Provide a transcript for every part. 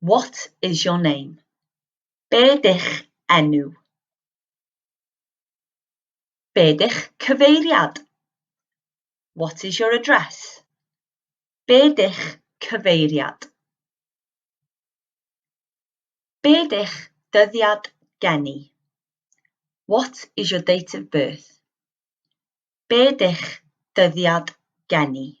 What is your name? Be dych enw? Be dych cyfeiriad? What is your address? Be dych cyfeiriad? Be dych dyddiad geni? What is your date of birth? Be dych dyddiad geni?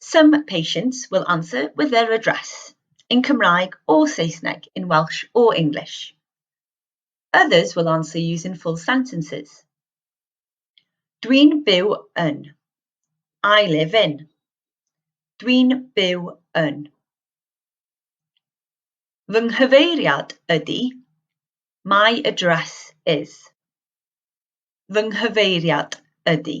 Some patients will answer with their address, in Cymraeg o Saesneg, in Welsh o English. Others will answer using full sentences. Dwi'n byw yn. I live in. Dwi'n byw yn. Fy nghyfeiriad ydy. My address is. Fy nghyfeiriad ydy.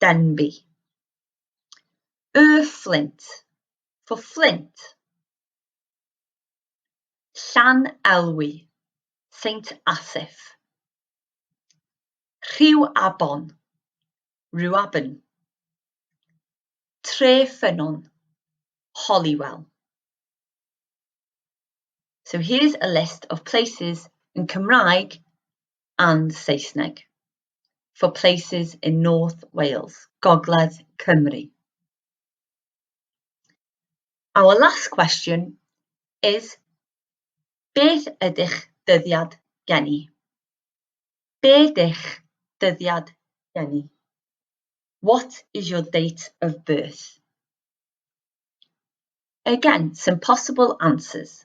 Denbigh. Y Fflint, for Flint. Llan Elwy, Saint Asaph. Rhyw Abon, Rhuaben. Tre Ffynnon, Holywell. So here's a list of places in Cymraeg and Saesneg. for places in North Wales, Gogledd Cymru. Our last question is, beth ydych dyddiad geni? Be dych dyddiad geni? What is your date of birth? Again, some possible answers.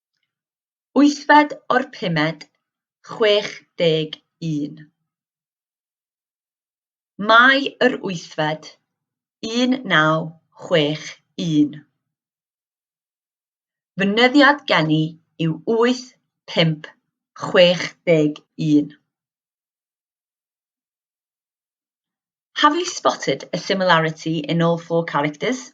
Wythfed o'r pumed, 61. Mai yr wythfed, 1961. Fy nyddiad geni yw 8561. Have you spotted a similarity in all four characters?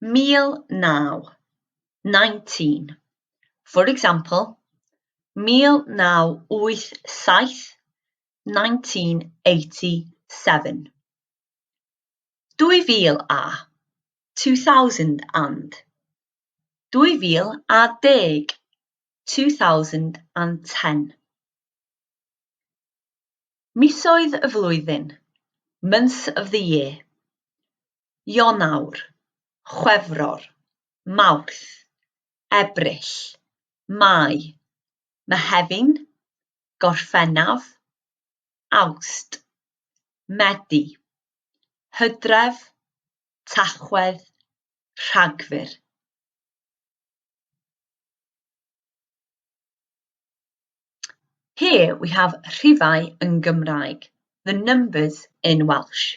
Mil naw. Nineteen. For example, mil naw wyth saith, nineteen eighty seven. Dwy fil a, two thousand and. Dwy fil a deg, two thousand and ten. Misoedd y flwyddyn, months of the year. Ionawr, Chwefror, Mawrth, Ebrill, Mai, Mehefin, Gorffennaf, Awst, Medi, Hydref, Tachwedd, Rhagfyr. Here we have rhifau yn Gymraeg, the numbers in Welsh.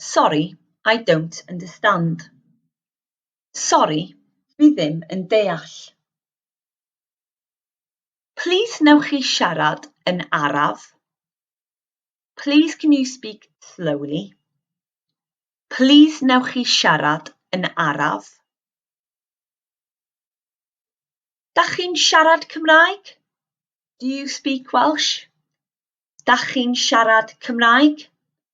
Sorry, I don't understand. Sori, dwi ddim yn deall. Plîs wnewch chi siarad yn araf? Plîs can you speak slowly? Plîs wnewch chi siarad yn araf? Da chi'n siarad Cymraeg? Do you speak Welsh? Da chi'n siarad Cymraeg?